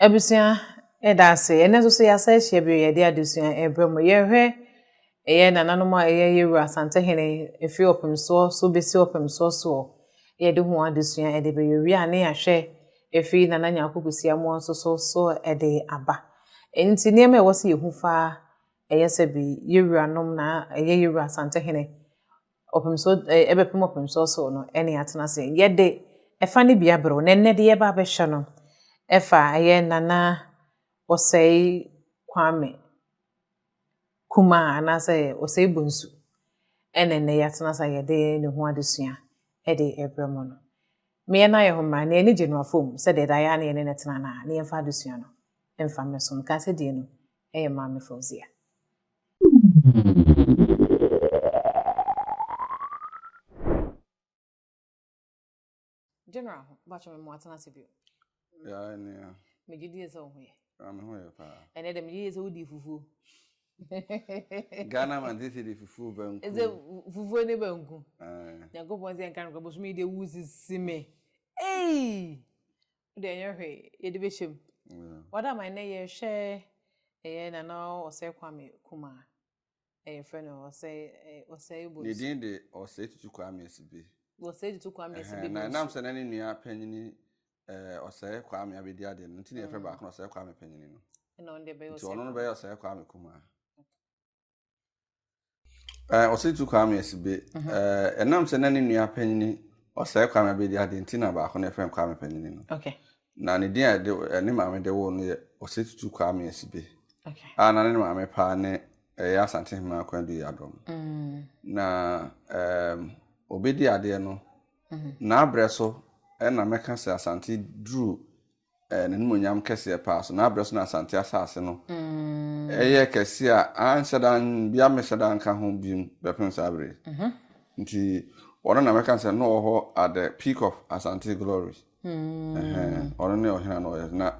Abusua yɛda ase ɛnɛ nso so yɛasa ahyia bio yɛde adesua ɛbrɛ mu yɛhwɛ ɛyɛ nananom a ɛyɛ yɛwura asantehene ɛfiri ɔpemsoɔ so bɛsi ɔpemsoɔ soɔ yɛde ho adesua ɛde bɛyɛ wie a ne yɛahwɛ ɛfiri nana nyaako kusia mu nso so so ɛde aba nti nneɛma ɛwɔ sɛ yɛhu fa ɛyɛ sɛ bi yɛwuranom na ɛyɛ yɛwura asantehene Ɔpemso, eh, ɛbɛpem ɔpemso ɔsoro no ɛne atena ase. Yɛde ɛfa no bi abrɛw, na ɛnnɛ de yɛba abɛhwɛ no ɛfa ɛyɛ Nana Ɔsɛe Kwame Kuma anaasɛ Ɔsɛe Bonsu ɛna ɛnnɛ yɛatena ase a yɛde ne ho adesua ɛde ɛbrɛ mo no. Meyɛ no ayɛ ho mmara, nea ani gye no afom sɛ deɛ ɛda yɛ a ne yɛne no tena no a, ne yɛmfa adesua no ɛmfa mmɛsom. Kasadie no ɛyɛ Maame Fauzia. General, bakyɛ me mo atena ase bio. Yeah, nea. Me gye die sɛ wo ho yɛ. Ah, me ho yɛ paa. Ɛnɛ dɛ me gye die sɛ wo di fufuo. Ghana man sɛ sɛ de fufuo banku. Ɛsɛ fufuo ne banku. Nyankopɔn sɛ nka no kɔ bosom yi de wo sisi me. Ei! Wode ɛnyɛ hwee yɛde bɛhyɛ mu. Wada ma ɛnɛ yɛhwɛ ɛyɛ Nana Ɔsɛe Kwame Kuma a yɛfrɛ no Ɔsɛe Bonsu. Ne din de Ɔsɛe Tutu Kwame Asibe. Ɔsɛe Tutu Kwame Asibe Bonsu. Na ɛnam sɛ na ne nua panyini Ɔsɛe Kwame abɛdi adeɛ no nti na yɛfrɛ baako no Ɔsɛe Kwame Panyini no. Ɛna ɔno deɛ bɛyɛ Ɔsɛe Kwame. Nti ɔno no bɛyɛ Ɔsɛe Kwame Kuma. Eh, Ɔsɛtu Kwame Asibe, mhm. eh, ɛnam sɛ na ne nua panyini ɔsɛe Kwame Abedi ade nti na baako na ɛfɛn Kwame panyini no. Okay. Na ne din a ɛde eh, ne maame de woo no yɛ Ɔsɛtutu Kwame Asibe. Okay. A na ne maame paa ne ɛyɛ eh, Asante Hema Akwandu Yadom. Mm. Na eh, obedi adeɛ no, mm -hmm. n'abrɛ so ɛna mɛka sɛ Asante duru eh, n'animuonyam kɛseɛ paa so, n'abrɛ so na Asante asase no ɛyɛ kɛseɛ a anhyɛ da bia mehyɛ da nka ho biom bɛpem saa bere mhm. nti ɔno na mɛka sɛ na ɔwɔ hɔ at the peak of Asante glory hmm. ɔno ne ɔhena na ɔyɛ na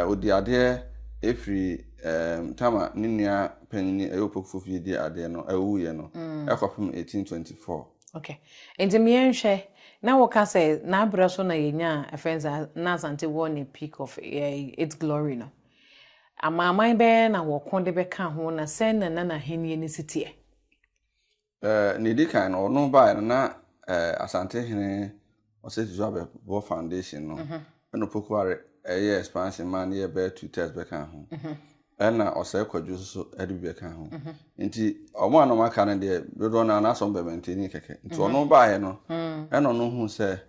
ɔdi eh, adeɛ ɛfiri eh, tama ne nua panyini ɛyɛ opokufo fie di adeɛ no ɛwuiɛ no hmm. ɛkɔpem 1824 Okay. Nti me yɛn hwɛ, na wo ka sɛ n'abrɛ so na yɛnya a friends a na Asante wɔ ne peak of eh, its glory no. Amanaman bɛyɛ na wɔko de bɛka ho na sɛn na na n'ahenni no si teɛ. Eh, ne di kan no, ɔno baeɛ no na eh, Asante hene Ɔsɛ Susu abɛ bɔ foundation no ɛna opoku are ɛyɛ expansion maa no yɛ bɛyɛ two thirds bɛ ka ho ɛna ɔsɛ kwadwo soso ɛde bi bɛ ka ho nti ɔmo a na ɔmo aka no deɛ dodoɔ naa na asɔm bɛ maintain kɛkɛ nti ɔno baayɛ no ɛna ɔno hu sɛ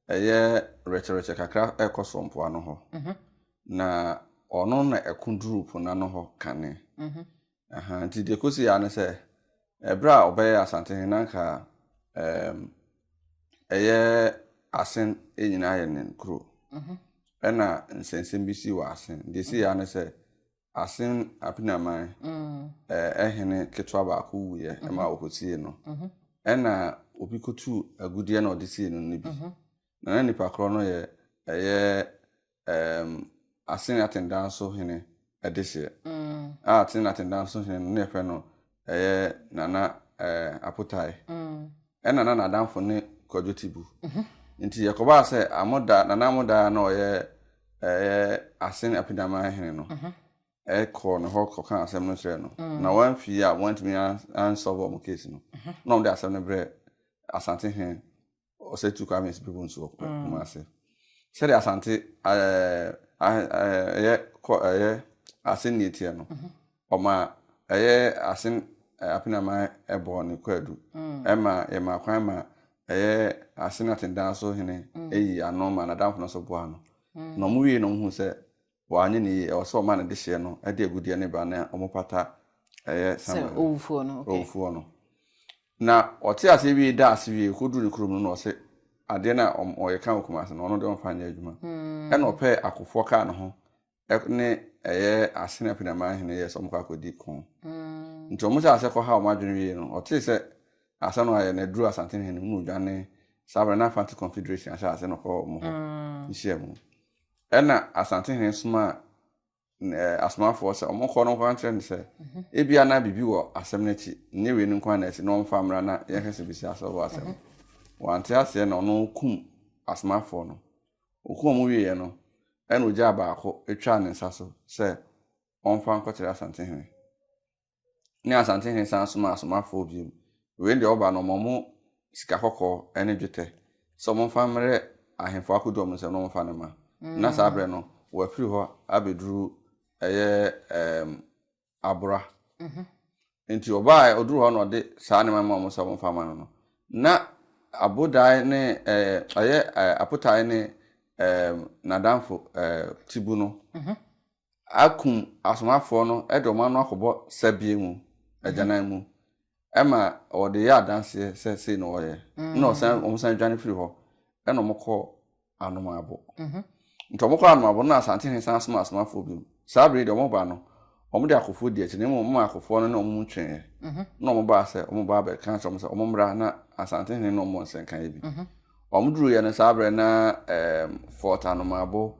ɛyɛ rɛkyerɛkyɛ kakra ɛkɔ so mpoano hɔ na ɔno na ɛko duru po n'ano hɔ kane Ahaa nti deɛ ɛkɔsi ara ne sɛ ɛberɛ a ɔbɛyɛ Asantehene no anka ɛɛm ɛyɛ Asen nyinaa yɛ ne kuro ɛna nsɛnsɛm bi sii wɔ Asen. Deɛ ɛsii ara ne sɛ Asen Apenaman ɛɛ hene ketewa baako wuiɛ ɛma wɔkɔsiee no ɛna obi kɔtuu agudeɛ na ɔde siee no no bi na na nipa korɔ no yɛ ɛyɛ um, Asene Atendan So Hene adehyeɛ mm. a Asene Atendan So Hene no na yɛfrɛ no ɛyɛ Nana eh, Apotae mm. ɛna na n'adamfo ne Kwadwo Tibu mm -hmm. nti yɛkɔbaa sɛ amoda Nana Amoda na ɔyɛ ɛyɛ Asene Apedaman Hene no mm -hmm. ɛkɔɔ ne hɔ kɔka asɛm no kyerɛɛ no mm. na wɔamfii a wɔantumi ansɔlve wɔn case no mm -hmm. na wɔde asɛm no brɛ Asante Hene ɔsɛ tu kwame si pipo nso ɔpɛ mm. kuma ase sɛde asante ɛɛ ɛyɛ kɔ ɛyɛ ase nea etia no mhm. ɔma ɛyɛ ase apenaman ɛbɔ ne kwaadu mm. ɛma ɛma kwan ma ɛyɛ ase na tendan so hene mm. eyi ano ma n'adamfo no so boa no na wɔn wie na wɔn hu sɛ wanyɛ ne yie, ɛwɔ sɛ wɔma ne dehyeɛ no de agudeɛ no ba na wɔpata ɛyɛ Samuel no, owufoɔ no, okay. owufoɔ no. Na ɔte aseɛ wie da ase wie kɔduru ne kurom no na ɔse adeɛ no a ɔyɛ ka wɔ Kumase no ɔno deɛ ɔmfa nyɛ adwuma. Hmm. Ɛna ɔpɛɛ akofoɔ kaa ne ho ne ɛyɛ Asene Apinaman hene yɛ sɛ wɔkɔ akɔdi ko. Hmm. Nti wɔn hyɛ aseɛ kɔ ha wɔn adwene wie no ɔtee sɛ asɛm no ayɛ na aduru Asante hene mu na odwane saa berɛ na Fante Confederation ahyɛ aseɛ na ɔkɔ wɔn hɔ hmm. nhyia mu. Ɛnna asantehene somaa asomafoɔ sɛ wɔnkɔ no nkɔka nkyerɛ no sɛ, Ebia na biribi wɔ asɛm no akyi, ɛnyɛ wei no nko ara na asi, na ɔmfa mmra na yɛnhwɛ sɛ bɛsi asɛm wɔ asɛm no. Wante aseɛ na ɔno kum asomafoɔ no. Ɔkum wɔn wieeɛ no, ɛnna ɔgyaa baako twaa ne nsa so sɛ ɔmfa nkɔkyerɛ asantehene. ne Asantehene san somaa asomafoɔ bio. Wei deɛ wɔba no, wɔma wɔn sika kɔkɔɔ ne dwetɛ sɛ wɔmfa mmrɛ ahemfo akodoɔ no nsam na wɔmfa no mma. Na saa berɛ no, wɔafiri hɔ abɛduru ɛyɛ ɛɛm Abora. Nti ɔbaa ɔduru hɔ na ɔde saa nneɛma ma wɔn sɛ wɔmfa mma no no, na Abodae ne ɛɛ ɛyɛ ɛɛ Apotae ne ɛɛm n'adamfo ɛɛ Tibu no akum asomafoɔ no de wɔn ano akɔbɔ sɛbeɛ mu, agyanan mu, ɛma wɔde yɛ adanseɛ sɛ sei na wɔyɛ, na wɔsan wɔn san dwane firi hɔ, ɛna wɔn kɔ Anomaabo. Nti wɔn kɔ Anomaabo na Asantehene san soma asomafoɔ bi mu. Saa bere yi deɛ wɔn ba no, wɔn de akofoɔ di akyi na mmom wɔn akofoɔ no ne wɔn mu tweeɛ, na wɔn baa sɛ wɔn ba abɛka akyerɛ wɔn sɛ wɔn mmra na Asantehene ne wɔn mmɔ nsɛnkaeɛ bi. Wɔduruiɛ no saa berɛ na um, Fort Anomabo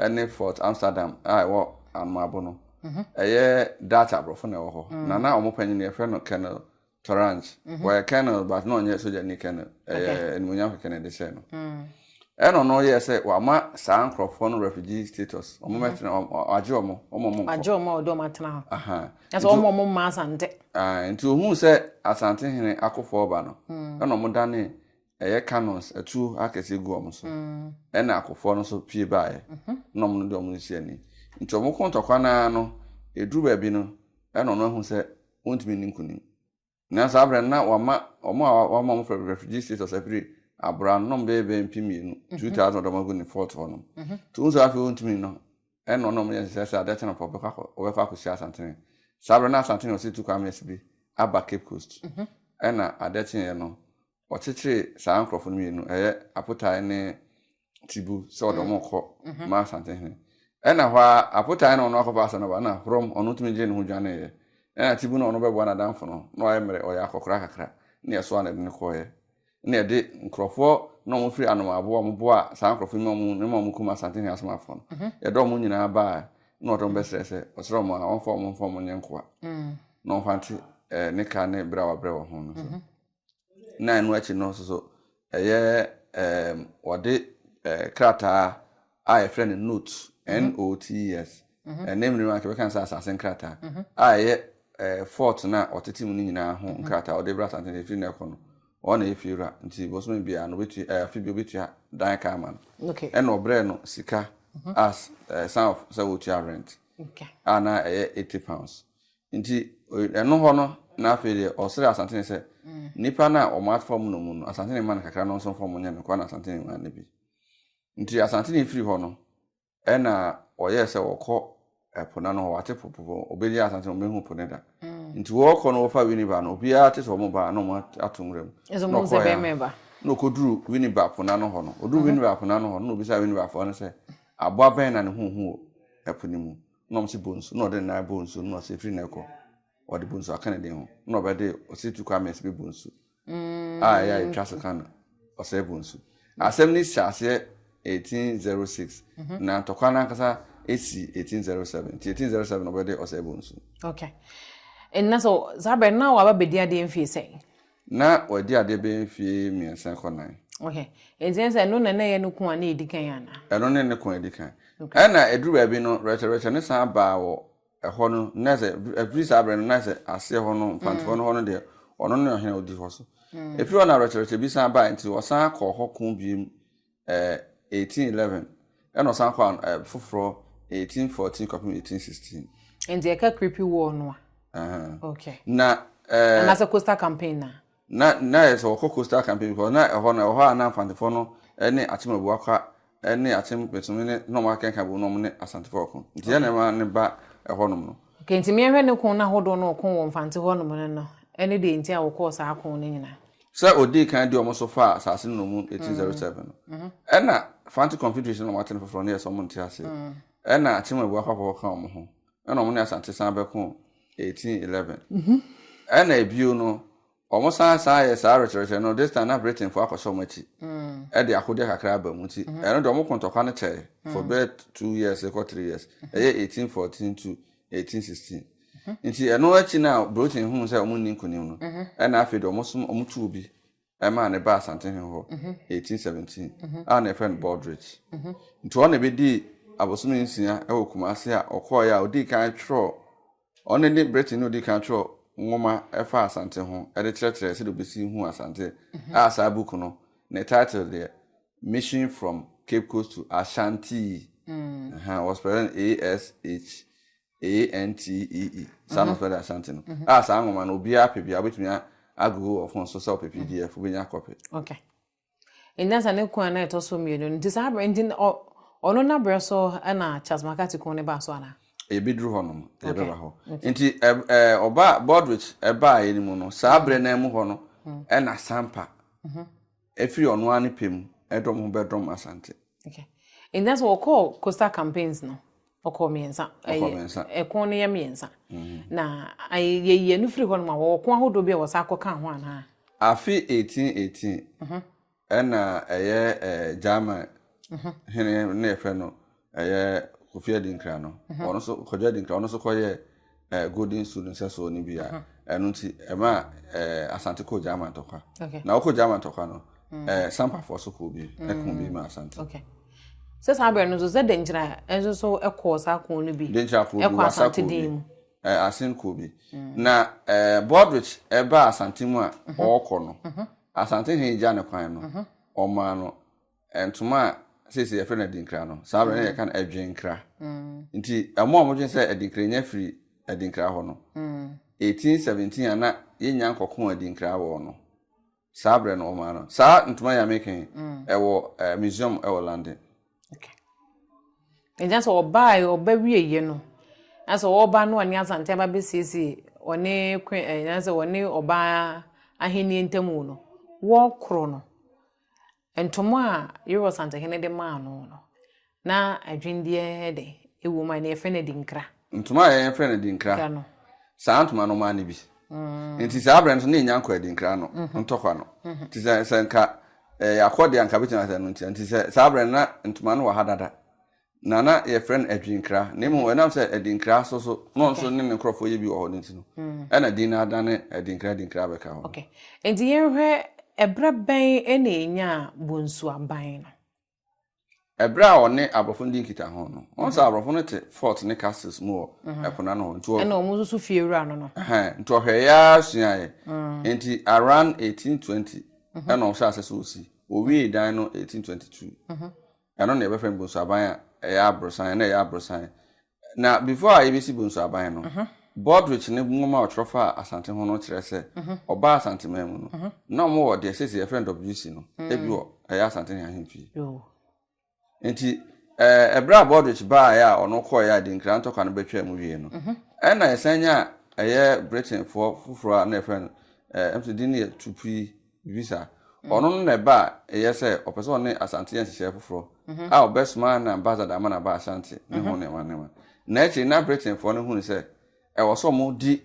ne Fort Amsterdam a ɛwɔ Anomabo no, mhm. ɛyɛ Dutch aborɔfo na ɛwɔ hɔ. Mm. Na na wɔn panyin yɛfrɛ no Colonel Torange. Mhm. Wɔyɛ Colonel but na ɔnyɛ sogyani Colonel. Ɛyɛ animuonyam kɛkɛ na ɛde hyɛ no. Mm. ɛna ɔno yɛ sɛ wama saa nkurɔfoɔ no refugee status wɔn mɛtena mhm. wɔn agye wɔn wɔn wɔn nkɔ agye wɔn a ɔde wɔn atena hɔ ɛsɛ wɔn wɔn mma asante nti ohun sɛ asante hene akɔfo ɔba no hmm. ɛna wɔn dane ɛyɛ cannons, atuo akɛseɛ gu wɔn so, ɛna akofoɔ no nso pue baeɛ, na wɔn de wɔn resi ani. Nti wɔko ntɔkwa no ara no, ɛduru baabi no, ɛna wɔn ahu sɛ wɔntumi nni nkonim. Na saa berɛ no, na wɔama wɔn a wɔama wɔn frɛ refugee status afiri abora no, na wɔn bɛyɛ bɛyɛ mpem mmienu, 2,000 wɔde wɔn agu ne fort hɔ nom. Nti wɔn nso afei wɔntumi no, ɛna wɔn a wɔyɛ nhyehyɛ sɛ adeɛ kye no pɔ wɔbɛkɔ akɔhyia Asantene. Saa berɛ na Asantene ɔsi tu Kwame Asibi aba Cape Coast. Ɛna adeɛ kyeeɛ no, wɔkyekyere saa nkurɔfo no mmienu, ɛyɛ Apotae ne Tibu sɛ wɔde wɔn kɔ ma Asantehene. Ɛna hɔ ara Apotae na ɔno akɔfa asɛm no aba na Horom ɔno tumi gyee ne ho dwaneeɛ. Ɛna Tibu na ɔno bɛboa n'adamfo no na wayɛ mmerɛ ɔyɛ akɔkora kakra ne ɛsoa na ɛde no kɔeɛ ne ɛde nkurɔfoɔ na wɔn firi Anomaboa wɔn boa saa nkurɔfo yi ma wɔn ne ma wɔn kum Asantehene asomafoɔ no mhm. yɛde wɔn nyinaa baa na wɔde wɔn bɛsrɛ sɛ ɔsrɛ wɔn a wɔmfa wɔn mfa wɔn nyɛ nkoa mm. na wɔmfa nte eh, ne ka ne berɛ a wabrɛ wɔn ho no so. Mhm. na ɛno akyi no nso so ɛyɛ ɛɛm wɔde ɛɛ krataa a yɛfrɛ no note n-o-t-e-s ɛne mmiri anka bɛka sɛ asase nkrataa a ɛyɛ ɛɛ fort no a ɔtete mu no nyinaa ho nkrataa ɔde bra asante no efiri na ɛkɔ no wɔn na ɛyɛ fie wura nti bosome biara no obetua ɛɛ afi bi obetua dan ka ama no ɛna ɔbrɛ no sika as ɛɛ sign of sɛ wɔtua rent a na ɛyɛ eighty pounds. Nti ɛno hɔ no na afei deɛ ɔsrɛ Asantene sɛ nnipa no a wɔafam no mu no, Asantene mma no kakra no nso mfa wɔn nyɛ no kwa na Asantene maa no bi. Nti Asantene firi hɔ no, ɛna wɔyɛɛ sɛ wɔkɔ ɛpo no ano hɔ, wɔate po po wɔbɛnya Asantene, wɔbɛhu po no da. Nti wɔkɔ no wɔfa Winneba no, obiara te sɛ wɔn baa na wɔn ato nwura mu. Na ɔkɔɛ a, na ɔkɔduru Winneba po no ano hɔ no, ɔduru Winneba po no ano hɔ no, na ɔbisa Winneba foɔ no sɛ aboa bɛn na ne ho hu wɔ ɛpo no mu. na wɔsi bɔ nsu na ɔde ne nan bɔ nsu na ɔsi efiri na ɛkɔ ɔde bɔ nsu aka ne den ho na ɔbɛde ɔsi tu kwan mmiɛnsa bi bɔ nsu mm. a ɛyɛ a yɛtwa so ka no ɔsɛ bɔ nsu asɛm no si aseɛ 1806 mhm. na ntɔkwa no ankasa ɛsi 1807 nti 1807 na ɔbɛde ɔsɛ bɔ nsu okay. ɛnna so saa berɛ na waba bɛdi adeɛ mfie sɛn Ná wadi adeɛ bɛyɛ mfeɛ mmiɛnsa kɔ nan. Ohɛ. Enti ɛne sɛ ɛno na na ɛyɛ ne ko a na ɛdi kan anaa? Ɛno ne ne ko a ɛdi kan. Okay. Ɛna ɛduru baabi no, Rachel Rachel no san baa wɔ ɛhɔ no, na sɛ, ɛfiri saa berɛ no, na sɛ aseɛ hɔ no, Mfantefoɔ no hɔ no deɛ, ɔno ne ɔhene a ɔdi hɔ so. Ɛfiri hɔ na Rachel Rachel bi san baeɛ nti, wɔsan kɔɔ hɔ ko bio eighteen eleven, ɛna ɔsan kɔ an ɛɛ foforɔ eighteen fourteen kɔpem eighteen sixteen. Nti ɛka creepy wall no a. Okay. Na ɛɛ. Anaasɛ coastal campaign na. Na na yɛ sɛ wɔkɔ coastal campaign because na ɛhɔ no ɛhɔ a na mfantefoɔ no ɛne akyem abuakwa ɛne akyem pɛsɛm ne na wɔn akɛnka bom na wɔn ne asantefoɔ ɔko nti yɛn na ɛma ne ba ɛhɔ nom no. Okay nti mmea hwɛ ne ko no ahodoɔ no ɔko wɔ mfante hɔ nom no no ɛne deɛ nti a wɔkɔɔ saa ko no nyinaa. Sɛ odii kan de wɔn so faa asase no nnommum 1807 no, ɛna Fante Confederation na wɔate no foforɔ no yɛ sɛ wɔn nte aseɛ. Ɛna Akyemwebua akwafɔfoɔ ka wɔn ho, ɛna wɔn ne Asante san bɛko 1811. Ɛna bio no, wɔn san san yɛ saa rekyerɛkyerɛ no, this time na Britainfoɔ akɔhyɛ wɔn akyi, ɛde akodeɛ kakra aba mu, nti ɛno deɛ wɔn ko ntɔkwa no kyɛɛ for bɛyɛ two years rekɔ three years, ɛyɛ 1814 to eighteen sixteen nti ɛno akyi no a Brooklyn huu sɛ wɔn nni nkunim no ɛna afei de wɔn som wɔn tuu bi ɛmaa ne ba Asantehe hɔ eighteen seventeen a na yɛfrɛ no Baldrich nti ɔna ebedii abosome nsia ɛwɔ Kumasi a ɔkɔɔ yɛ a odii kan twerɛ ɔne ne Britain na odii kan twerɛ nwoma ɛfa Asante ho ɛde kyerɛkyerɛ sɛdeɛ obesi hu Asante a saa book no ne title deɛ Mission from Cape Coast to Ashanti mm. was present ASH ANTEE saa na ɔfrɛ de Ashanti no a saa nwoma no obiara pɛ biara wobɛtumi agogo wɔ fon so sɛ ɔpɛ pdf wobɛnya kɔpɛ okay. nyansa ne kwan na ɛtɔ so mmienu nti saa berɛ nti ɔno no aberɛ so na Charles McCarthy ko ne baa so anaa yɛbɛduru hɔ nom yɛbɛba hɔ nti ɔba Baldrich ɛbaeɛ no mu no saa berɛ no mu hɔ no ɛna Sampa Ɛfiri ɔno ara ne pɛ mu dɔm ho bɛdɔm Asante. Okay. Nti na sɛ wɔkɔɔ coastal campaigns no, ɔkɔɔ mmiɛnsa. Ɔkɔɔ mmiɛnsa. Ɛko no yɛ mmiɛnsa. Mm-hmm. Na yɛyi ɛno firi hɔ no ma wɔwɔ ko ahodoɔ bi a wɔsa akɔka ho anaa? Afe 1818 mm-hmm. ɛna ɛyɛ eh, German mm-hmm. hene na yɛfrɛ no ɛyɛ kofi adinkra no ɔno nso kwadwo adinkra ɔno nso kɔyɛ ɛɛ golden su no nsɛsoɔ no bi a ɛno nti ɛma ɛɛ asante kɔ gyama ntɔkwa na ɔkɔ gyama ntɔkwa no mm. ɛɛ sampafoɔ so kɔ bi mm. ɛko bi ma asante. sɛ saa abirɛ no nso sɛ denkyira nso nso ɛkɔ saa ko no bi denkyira ko bi ɛkɔ asante din mu ɛɛ asen ko bi mm. na ɛɛ bɔdrich ɛba asante mu a mhm. ɔɔkɔ no mhm. asante hin gya ne kwan no mhm. ɔmaa no. ntoma a sese yɛfrɛ no adinkra no saa bere na yɛka no adwenkra nti ɛmo a wɔdwen sɛ adinkra nya firi adinkra hɔ no 1817 a na yɛnya nkɔko adinkra wɔ no saa bere no wɔn ano saa ntoma yɛ ameka yi ɛwɔ museum ɛwɔ London. ɛgya sɛ ɔbaa ɔba wie yɛ no ɛsɛ ɔba no ɔne asante aba bɛsiesie ɔne kwen ɛgya sɛ ɔne ɔbaa ahenni ntamu no wɔkorɔ no. Ntomo a Yerobal Asantehene de maa no no, na adwinneɛ ne dɛn wom a ɛnnɛ yɛfrɛ no adinkra? Ntoma a yɛfrɛ no adinkra, saa ntoma no mane bi. Enti saa berɛ no nso na yɛnya nkɔ adinkra no ntɔkwa no. Nti sɛ sɛ nka yɛakɔ deɛ anka bɛtumi asɛ no nti. Nti sɛ saa berɛ no na ntoma no wɔ ha dada. Na na yɛfrɛ no Adwinkra, na mmom ɛnam sɛ Adinkra so so na ɔno nso ne ne nkurɔfoɔ yɛ bi wɔ hɔ no nti no, ɛna din no adane Adinkra Adinkra abɛka hɔ. Okay. Nti yɛnhwɛ ɛberɛ bɛn na ɛnyaa Bonsu aban no? Ɛberɛ a ɔne aborɔfo no di nkitaho no, wɔn sɛ aborɔfo no te fort ne castles mu wɔ ɛpo no ano hɔ. Nti ɔ. Ɛna wɔn nso so fiewura no no. Ɛhɛn, nti ɔhwɛeɛ ara suaeɛ. Nti around 1820 ɛna ɔhyɛɛ aseɛ sɛ ɔsi. Ɔwiee dan no 1822. Ɛno na yɛbɛfrɛ no bonsuaban a ɛyɛ aborosan, ɛna ɛyɛ aborosan. Na before a yɛbɛsi bonsuaban no, mhm. Baldrich ne nwoma a ɔtwerɛ fa Asante ho no kyerɛ sɛ mhm. ɔbaa Asanteman mu no, mhm. na wɔn wɔ deɛ sɛsɛ yɛfrɛ no WC no, mm. ebi wɔ ɛyɛ Asante ne ahemfie. Nti ɛberɛ a Baldrich baeɛ a ɔno kɔeɛ a Dinkra ntɔkwa no bɛtwaa mu wie no, ɛna yɛsan nya ɛyɛ Britainfoɔ foforɔ a na yɛfrɛ no ɛm sɛ din no yɛ Tupui visa. Ɔno no na ɛba a ɛyɛ sɛ ɔpɛ sɛ ɔne Asante yɛ nhyehyɛe foforɔ a ɔbɛsoma na ambassador ama no aba Asante ne ho nneɛma nneɛma. Na akyiri na Britainfoɔ no hunu sɛ ɛwɔ sɛ wɔdi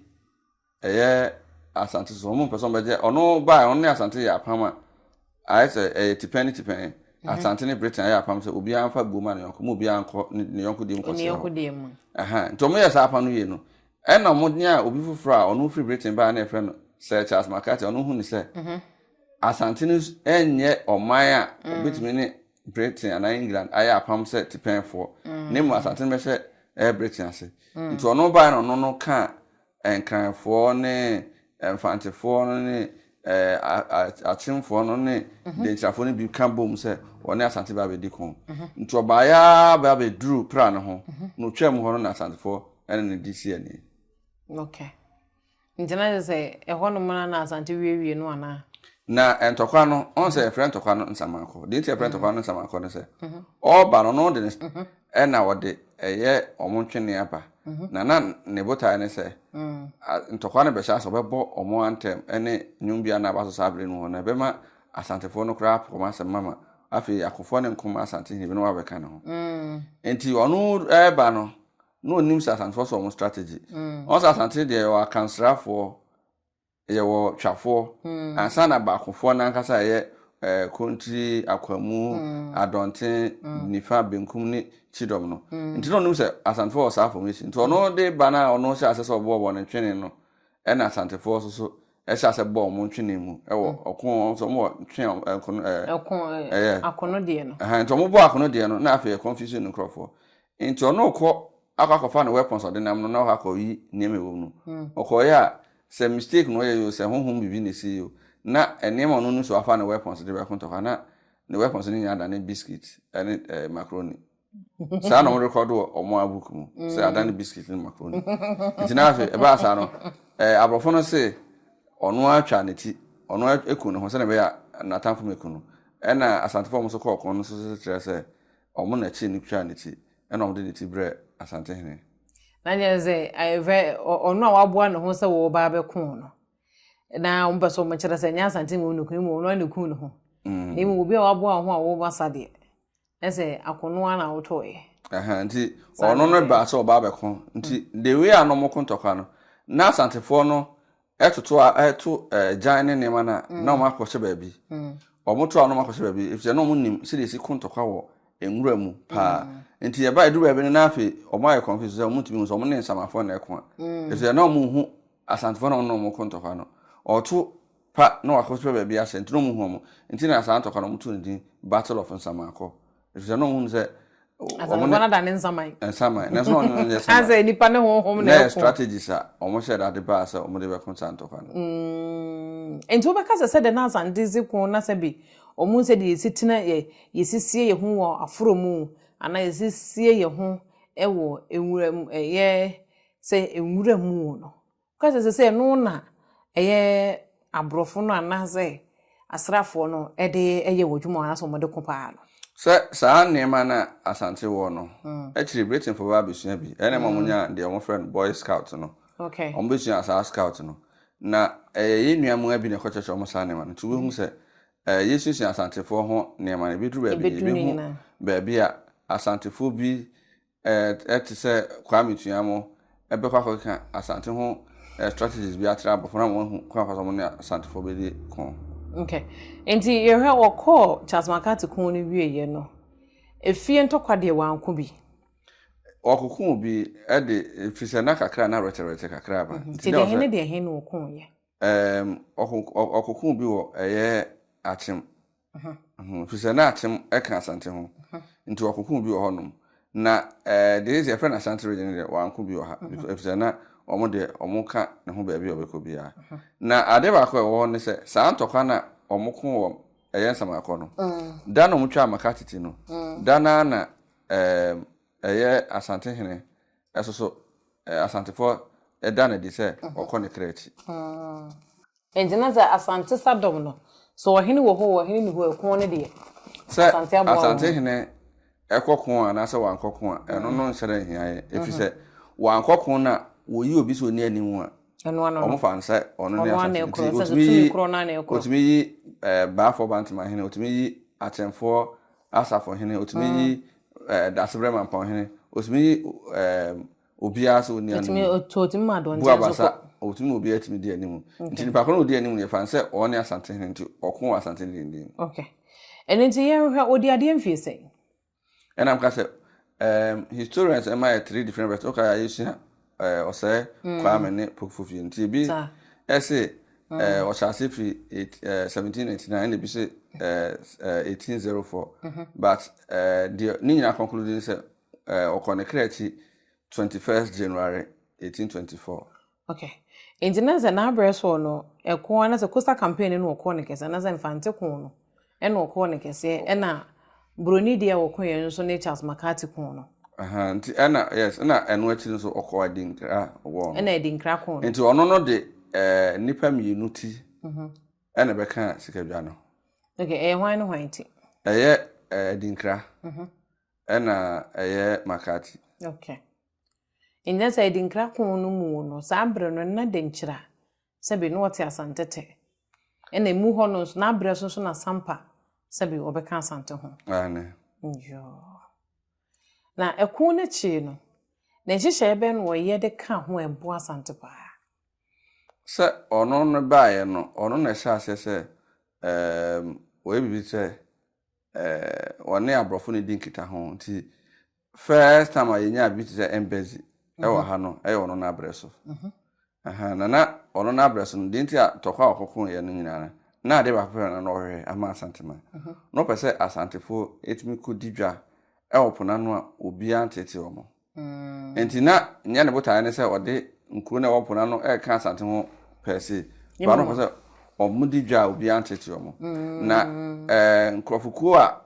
ɛyɛ Asante so, wɔn mpɛ sɛ wɔbɛgye ɔno bae, ɔno ne Asante yɛ apam a ayɛ sɛ ɛyɛ tipɛn ne tipɛn. Asante ne Britain ayɛ apam sɛ obiara mfa buo ma ne yɔnko, ma obiara nkɔ ne yɔnko deɛ mu nkɔsra hɔ. Aha, nti wɔyɛ saa apam no wie no, Ɛnna wɔn de a obi foforɔ a ɔno firi Britain baeɛ na yɛfrɛ no Sir Charles McCarthy, ɔno hunuu sɛ Asante no nyɛ ɔman a wɔbɛtumi ne Britain anaa England ayɛ apam sɛ tipɛnfoɔ, na mmom Asante no bɛhyɛ ɛyɛ Britain ase. Nti ɔno baeɛ na ɔno no kaa Nkranfoɔ ne Mfantefoɔ no ne Akyemfoɔ no ne Dankyirafoɔ no bi ka bom sɛ wɔne Asante bɛba abɛdi ko. Nti ɔbaeɛ ara ba bɛduruu Pra no ho, na ɔtwaam hɔ no na Asantefoɔ ne no de sii ani. Okay. Nti na kyerɛ sɛ ɛhɔ nom na na Asante wiewie no anaa? Na ntɔkwa no, ɔn sɛ yɛfrɛ ntɔkwa no Nsamankɔ. Deɛ nti yɛfrɛ ntɔkwa no Nsamankɔ ne sɛ, ɔba no, ɔno de ne Ɛna ɔde ɛyɛ wɔn ntwene aba, na na ne botae ne sɛ ntɔkwa no bɛhyɛ ase, ɔbɛbɔ wɔn antɛm ne nnwom bi a na aba so saa bere no mu, na ɛbɛma Asantefoɔ no koraa apo wɔn asɛm ma ma afei akofoɔ ne nkom Asantehene binom abɛka ne ho. Enti ɔno reba no, na ɔnim sɛ Asantefoɔ so wɔn strategy. Ɔn sɛ Asante deɛ yɛwɔ Akansrafoɔ Yɛwɔ twafoɔ mm. ansa na baakofoɔ no ankasa ɛyɛ eh, kontiri akwamu mm. adɔnten mm. nifa benkum ne kyidɔm no mm. nti na ɔnom sɛ asantefoɔ wɔ saa formation nti ɔno de ba no a ɔno hyɛ asɛ sɛ ɔbɔɔ wɔn ntwene no ɛna asantefoɔ so so ɛhyɛ asɛ bɔɔ wɔn ntwene mu ɛwɔ mm. ɔko wɔn nso wɔn wɔ ntwene ɛkono ɛɛ ɛko ɛyɛ akono deɛ no ɛhɛn nti wɔn bɔ akono deɛ no na afei ɛconfusion nkorɔfoɔ Nti ɔno ɔkɔ akɔ akɔfa ne weapons ɔde nam no na ɔkɔ akɔyi nneɛma ɛwɔ mu no. Ɔkɔɔyɛ a sɛ mistake na ɔyɛ yi o sɛ honhom biribi na ɛsii yi o na nneɛma a ɔno nim sɛ wafa ne weapons de bɛko ntɔkwa na ne weapons no nyinaa adane biscuit ne eh, macaroni. Saa na wɔrekɔdo wɔ wɔn a book mu sɛ adane biscuit ne macaroni. Nti na afei ɛbaa saa no eh, aborɔfo no se ɔno atwa ne ti ɔno aku ne ho sɛdeɛ ɛbɛyɛ a n'atamfo mɛku no. Ɛna Asantefo a wɔn nso kɔɔ ɔko no nso kyerɛ sɛ Wɔn na ɛkyeree no twaa ne ti, ɛnna wɔde ne ti brɛɛ Asantehene. Na kyerɛ sɛ, ɛfɛ, ɔno a waboa ne ho sɛ wɔreba abɛko wɔn no, na wɔpɛ sɛ wɔkyerɛ sɛ ɛnyɛ Asantehene mmom na okum, mmom ɔno ara na okum ne ho. Mm. Na mmom obi a waboa ho a wɔreba sa deɛ, na sɛ akono ara na wotɔeɛ. Ɛhɛn, nti ɔno no baa sɛ ɔba abɛko, nti mm. the way a na wɔko ntɔkwa no, na Asantefoɔ no Ɛtoto a ɛto agyan ne nneɛma no a, na wɔn akɔhyɛ baabi. Wɔn to a na wɔn akɔhyɛ baabi, efisɛ na wɔn nim sɛdeɛ esi ko ntɔkwa wɔ nwura mu paa. Nti ɛba edu baabi no na afei wɔn ayɛ confuse sɛ wɔn ntumi hu sɛ wɔn ne nsamafo na ɛko a. Efisɛ na wɔn nhu Asantefo na wɔn ne wɔn ko ntɔkwa no. Ɔto pa na wɔakɔhyɛ baabi ahyɛ nti na wɔn nhu wɔn. Nti na saa ntɔkwa no wɔn to no din Battle of Nsamaakɔ. ɛfiri sɛ na ɔhunu sɛ asafo no da ne nsaman nsaman nanso na ɔno nyɛ saman asɛ nipa ne honhom na ɛko strategies a wɔn hyɛ dade baa sɛ wɔn de bɛko saa ntɔkwa no mm. nti wobɛka sɛ sɛ de na asante dze ko na sɛ bi ɔmo sɛ de yɛsi tena yɛ yɛsisie yɛ ho wɔ aforo mu anaa yɛsisie yɛ ho wɔ nwura mu ɛyɛ sɛ nwura mu no Woka sɛ sɛsɛ no na ɛyɛ aborɔfo no anaasɛ asraafoɔ no de yɛ wɔn adwuma anaasɛ wɔn de ko paa no. Sɛ saa nneɛma no a Asante wɔ no, akyiri Britainfoɔ bɛba abɛsua bi, ɛyɛ na ɛma wɔnyaa deɛ wɔfrɛ no Boy Scout no, wɔbɛsuaa saa Scout no, na ɛyɛ yɛn nua mmaa bi na ɛkɔkyerɛkyerɛ wɔn saa nneɛma no, nti wobɛhu sɛ yɛsuasua Asantefoɔ ho nneɛma no, ɛbɛduru baabi no yɛbɛhu baabi a Asantefoɔ bi eh, te sɛ Kwame Tuamo, bɛkɔ akɔkeka Asante ho eh, strategies bi akyerɛ aborɔfo na wɔahu kwan afa so wɔn ne Asantefoɔ bɛdi ko. Okay. Nti yɛhwɛ wɔkɔɔ Charles McCarthy ko no wieɛ no, efie ntɔkwa deɛ wɔanko bi? Wɔkoko bi de, ɛfiri sɛ na kakra na rɛkyɛrɛkyɛ kakra aba. Mhm. Nti deɛ he ne deɛ he na wɔkooyɛ? Um, wɔkoko bi wɔ ɛyɛ akyem ho, ɛfiri sɛ na akyem ka Asante ho nti wɔkokoo bi wɔ hɔnom, na deɛ ɛsɛ yɛfrɛ no Asante region no deɛ wɔanko bi wɔ ha, ɛfiri sɛ na wɔn deɛ wɔka ne ho baabi a wɔbɛkɔ biara. Na adeɛ baako a ɛwɔ hɔ ne sɛ, saa ntɔkwa no a wɔko wɔ ɛyɛ Nsamanakɔ no, da no a wɔtwaa Makatiti no, da no ara na ɛyɛ Asante hene nso so Asantefoɔ da no adi sɛ wɔkɔ ne kra akyi. Enti na sɛ Asante sa dɔm no, sɛ ɔhene wɔ hɔ oo, ɔhene nni hɔ oo, ɛko no deɛ, Sɛ Asante aboa wɔn. Asantehene kɔ ko a anaasɛ wankɔ ko a, ɛno no nhyɛ da nhia yɛn. Ɛfiri sɛ, wankɔ ko no a, wɔyi obi sɛ ɔnni anim a, Ɛno ano no. wɔmfa no sɛ ɔno ne Ɔno ara na asantehene. ɛkorɔ, Nti sɛ sɛ wɔtumi yi, tumi korɔ no ara na ɛkorɔ. wɔtumi yi eh, Baafoɔ Bantemahene, wɔtumi yi Akyemfoɔ Asafohene, wɔtumi yi eh, Dasebrɛ Mampɔnhene, wɔtumi yi eh, Obiara so ɔnni anim. Bu abasa, ɔtumi ma obiara tumi di anim. Nti nipa koro na ɔdi anim no yɛfa no sɛ ɔne Asante hene nti ɔko wɔ Asante hene dendenden. Ok. Ɛno nti yɛnhwɛ ɔdi adeɛ mfie sɛn? Ɛna mka sɛ um, historians ɛma yɛ three different versions. Woka yɛ yɛsua uh, ɔsɛe mm. Kwame ne Pope Fofie nti ebi ɛse mm. uh, ɔhyɛ ase firi uh, 1799 ɛna ebi se uh, uh, 1804 mm -hmm. but uh, deɛ ne nyinaa conclude ne sɛ Eh, ɔkɔ ne kra akyi 21st January 1824. Okay. Nti na sɛ n'abrɛ soɔ no, ɛko ara na sɛ Coastal Campaign no na wɔkɔɔ no kɛseɛ, anaasɛ Mfante ko no ɛna wɔkɔɔ no kɛseɛ, ɛna Buroni deɛ a wɔkoeɛ no nso ne Charles McCarthy ko no. Aha, nti ɛna, yes, ɛna ɛno akyi no nso ɔkɔɔ Adinkra war no. Ɛna Adinkra ko no. Nti ɔno no de eh, nnipa mmienu ti mhm. ɛna ɛbɛka sikadwa no. Okay, ɛyɛ hwan ne hwan ti? Ɛyɛ eh, Adinkra. Mhm. Ɛna ɛyɛ Makati. Ok. Nnyɛ sɛ Adinkra ko no mu no, saa bere no na Denkyira, sɛbe, na ɔte Asantete. Ɛna emu hɔ no nso, n'abrɛ so nso na Sampa, sɛbe, ɔbɛka Asante ho. Aane. Yoo. Na ɛko no akyiri no, ne nhyehyɛeɛ bɛn na ɔyɛ de kaa ho a ɛboa Asante paa? Sɛ ɔno no baeɛ no, ɔno na ɛhyɛɛ aseɛ sɛ, ɛɛm, ɔyɛ biribi te sɛ eh, wɔne aborɔfo no di nkitaho nti first time a yɛnyaa bi te sɛ embɛzi mhm. ɛwɔ ha no ɛyɛ ɔno no abrɛ so mhm. na na ɔno no abrɛ so no deɛ nti a tɔkɔ a ɔkɔko yɛ no nyinaa no na adeɛ baako pɛ na na ɔhwehwɛ ama asantema mhm. na ɔpɛ sɛ asantefoɔ ɛtumi kɔdi dwa ɛwɔ pona no a obiara nteetee wɔn Mm. Nti na nyɛ ne botaeɛ ne sɛ ɔde nkuro no a ɛwɔ po no ano ɛreka Asante ho pɛɛse. Ba no pɛ sɛ wɔdi dwa a obiara nteetee wɔn. Mm. Na ɛɛ nkurɔfokuo a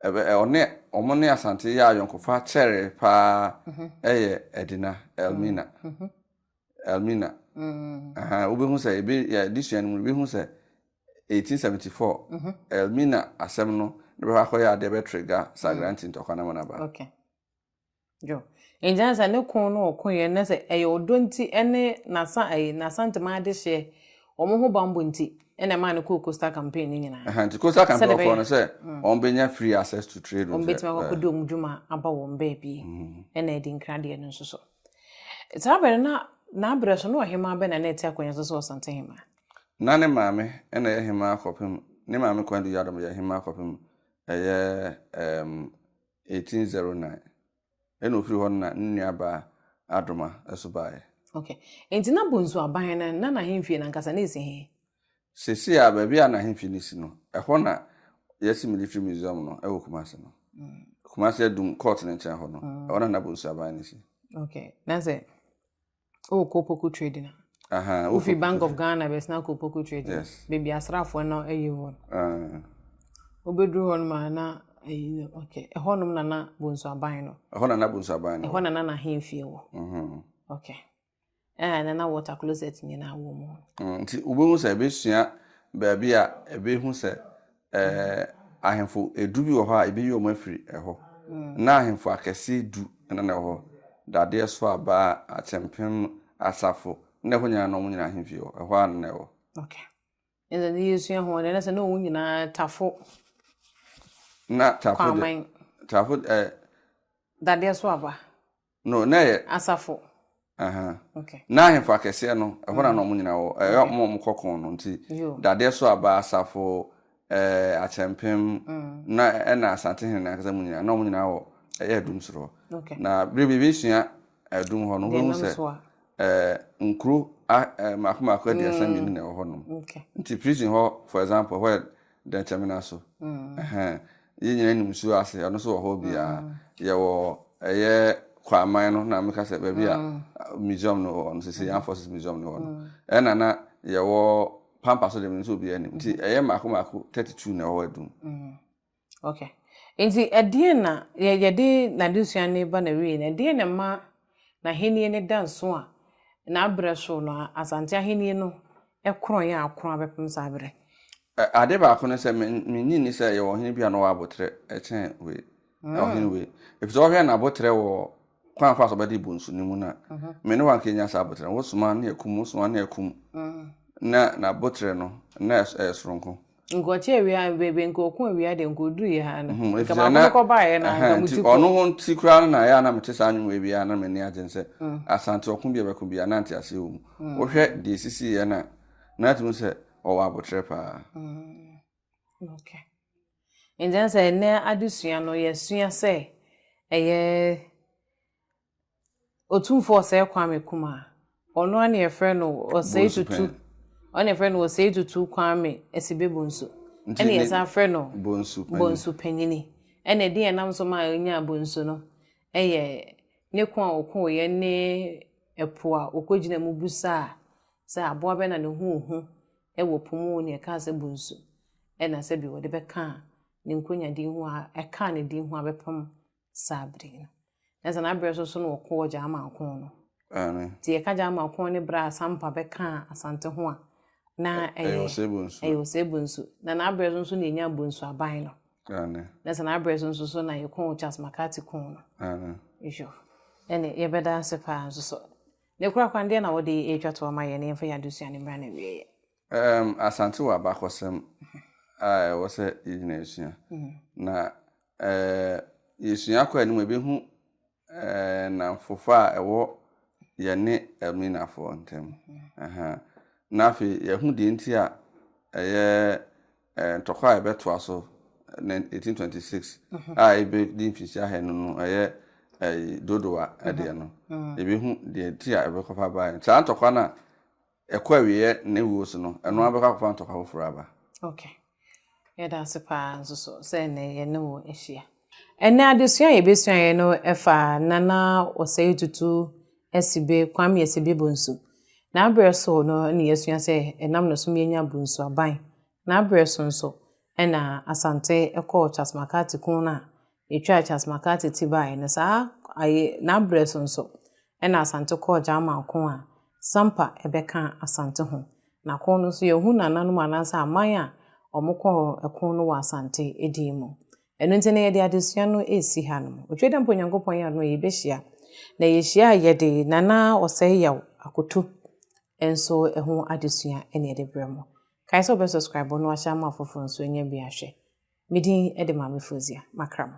ɛbɛ ɔne wɔn ne Asante yɛ ayɔnkofa kyɛree paa mm-hmm. ɛyɛ Ɛdina Elmina. Mm-hmm. Mm-hmm. Elmina. Mm. Wobɛhu sɛ ebi yɛ adesua no mu wobɛhu sɛ 1874 Elmina asɛm no ne bɛhɔ akɔyɛ adeɛ bɛtrega Sagranti ntɔkwa no mu naba. Okay. Enti na sɛ ne ko na ɔko yɛ no na sɛ ɛyɛ ɔdɔ nti ne n'asa ɛyi n'asantem adehyeɛ wɔn ho bammɔ nti ɛna ɛmaa no kɔɔ coastal campaign no nyinaa. Ɛhɛn nti coastal campaign ɔkɔɔ no sɛ wɔn bɛnya free access to trade. Wɔn bɛtumi akɔ akɔdi wɔn dwuma aba wɔn baabi ɛna ɛdi nkira deɛ no nso so. Saa bɛrɛ na n'abrɛ so na ɔhemaa bɛ na na ɛte akonnwa so sɛ ɔsante hemaa. Na ne maame ɛna ɛyɛ hemaa kɔpem ne maame Kwandu Yadom yɛ hemaa kɔpem ɛyɛ ɛɛm 1809, ɛnna ofiri hɔ no na ne nuabaa Adoma nso baeɛ. Okay. Enti na Bonsu Aban no, na n'ahemfie no ankasa, na ɛsi he? Seesei a, baabi a n'ahemfie no si no, ɛhɔ na yɛasi Military Museum no wɔ Kumasi no. Kumasi Adum Court no nkyɛn hɔ no, ɛhɔ na na Bonsu Aban no si. Okay. Na sɛ Oh, Kopoku trading. Uh -huh. Wofi Bank of Ghana bɛsena Kopoku trading. Yes. Baabi asraafoɔ no ayi hɔ. Uh. Wobɛduru hɔ nom a na ayi okay. Ɛhɔ nom na na Bonsu Aban no. Ɛhɔ na na Bonsu Aban no. Ɛhɔ na na n'ahemfie wɔ. Mm-hmm. Okay. Ɛɛ na na water closet nyinaa wɔ mu. Mm, nti wobɛhu sɛ ɛbɛsua baabi a ɛbɛhu sɛ Eh, ahemfo edu bi wɔ hɔ a ebeyi wɔn afiri ɛhɔ. Na ahemfo akɛse du na na ɛwɔ hɔ, dadeɛ so aba a akyɛmpem asafo na ɛhɔ nyinaa na wɔn nyinaa ahemfie wɔ. Ɛhɔ ara na na ɛwɔ. Okay. Ɛnna ne yɛsua ho deɛ na sɛ na wɔn nyinaa tafo. Na tafo de. Kwaman. Tafo eh. Dadeɛ so aba. No, na yɛ. Asafo. Aha. Okay. Na ahemfo akɛseɛ no, ɛhɔ na na wɔn nyinaa wɔ. Ɛyɛ wɔn a wɔn kɔ kɔn no nti. Yo. Dadeɛ so aba asafo, ɛɛ akyɛmpem, na ɛna asante hene na akasa mu nyinaa, na wɔn nyinaa wɔ ɛyɛ adum soro hɔ. Okay. Na bere bi ebesua adum hɔ no, wɔbɛhu sɛ ɛɛ nkuro a ɛɛ mako mako aduasa mmienu na ɛwɔ hɔ nom. Okay. Nti prison hɔ for example ɛhɔ yɛ. Dɛnkyɛmina so. Ɛhɛn. Yɛn nyinaa nim nsuo ase, ɛno nso wɔ hɔ biara. Yɛwɔ ɛyɛ Kwaman no na meka sɛ baabi a museum no wɔ no, sisi Armed Forces Museum no wɔ no. Ɛna na yɛwɔ Pampa so deɛ menim sɛ obiara nim. Nti ɛyɛ mmaako mmaako 32 na ɛwɔ hɔ adum. Okay. Nti ɛdeɛn na yɛde n'adesua no ba n'awieɛ no, ɛdeɛn na ɛma N'ahenni no da nso a, na berɛ so no Asante ahenni no korɔn a akorɔn abɛpem saa berɛ. Ade baako ne sɛ, mennye nni sɛ yɛwɔ ɔhene bi a na ɔwɔ aboterɛ kyɛn wei, ɔhene wei. Ɛfiri sɛ wohwɛ n'aboterɛ wɔ kwan a ɔfaa so ɔbɛde rebo nsu no mu no a, me ne wo anka yɛnnya saa aboterɛ no. Wosoma no na yɛakum, wosoma no na yɛakum. Ná n'aboterɛ no, na ɛyɛ soronko. nka ɔte awia ha baabi nka ɔko awia deɛ nka ɔduru yɛ ha no mhm, nka baako no kɔbaeɛ no nka mo ti kɔ ɔno ho nti koraa no na ɛyɛ a na mete saa nnwom ebi a na m'ani agye sɛ mm. asante ɔko bi a ɛbɛko bi a na nte aseɛ wɔ mu mm. wohwɛ deɛ ɛsisi yɛ na na atumi sɛ ɔwɔ abotrɛ paa mm. okay. nti sɛ ɛnɛ adesua no yɛsua sɛ ɛyɛ Otumfoɔ Osei Kwame Kumah, ɔno ara na yɛfrɛ no Osei Tutu, ɔno na yɛfrɛ no Osei Tutu Kwame Asibe Bonsu, ɛna yɛsan frɛ no Bonsu Panyini. Ɛna edin a ɛnam so ma onyaa Bonsu no yɛ ne ko a ɔkoeɛ ne ɛpo a ɔkɔgyinaa mu bisaa sɛ aboa bɛn na ne ho hu wɔ po mu na ɛkaa sɛ Bonsu, ɛna sɛbi wɔde bɛkaa ne nkonyadin ho a ɛkaa ne din ho abɛpem saa bere no na sɛ n'abrɛ so so na wɔkɔɔ German ko no nti yɛka German ko ne berɛ a Sampa bɛkaa Asante ho a na ɛyɛ ɛyɛ ɔsɛ bonsu na n'abrɛ so nso na yɛnya bonsu aban no na sɛ n'abrɛ so nso so na yɛkɔɔ Charles McCarthy ko no yɔ ɛne yɛbɛda ase paa nso so ne kora kwan deɛ na wɔde ɛtwa to ama yɛ ne yɛmfa yɛ adesua ne mmra no awieɛ Ɛɛm, Asante wɔ abakɔsɛm a ɛwɔ sɛ yɛgyina asua. Na ɛɛ yɛsua kɔ anim a yɛbɛhu ɛɛ nnamfofa a ɛwɔ yɛne Elminafoɔ ntam. Aha. Na afei yɛahu deɛ nti a ɛyɛ ɛɛ ntɔkwa a yɛbɛtoa so 1826 a yɛbɛdi mfinhyia ahɛ no no ɛyɛ ɛyi dodowa ɛdeɛ no. Yɛbɛhu deɛ nti a ɛbɛkɔfa baeɛ. Saa ntɔkwa no a Ɛkɔ awieɛ ne wuo so no, ɛno ara bɛkɔ akɔfa ntɔkwa foforɔ aba. Ok. Yɛda ase pa ara nso so sɛ ɛnnɛ yɛne wo ahyia. Ɛnnɛ adesua a yɛbɛsuaeɛ no fa Nana Osei Tutu Asibe, Kwame Asibe Bonsu. N'aberɛ so no na yɛasua sɛ ɛnam ne so ma yɛnya Bonsu aban. N'aberɛ so nso na Asante kɔɔ Charles McCarthy ko no a Yɛtwaa Charles McCarthy ti baeɛ no, saa aye na berɛ so nso na Asante kɔɔ Gyaaman ko a Sampa bɛka Asante ho. Na ko no nso yɛhu nananom anaasɛ aman a wɔkɔɔ ko no wɔ Asante din mu. Ɛno nti na yɛde adesua no resi hanom. Otwadeɛmpa Onyankopɔn yɛ adom a yɛbɛhyia. Na yɛhyia a yɛde Nana Ɔsɛeyaw Akoto nso ho adesua na yɛde brɛ mo. Kae sɛ wobɛ subscribe na wahyɛ ama afoforɔ nso anya bi ahwɛ. Me din de Maame Foozia Makramo.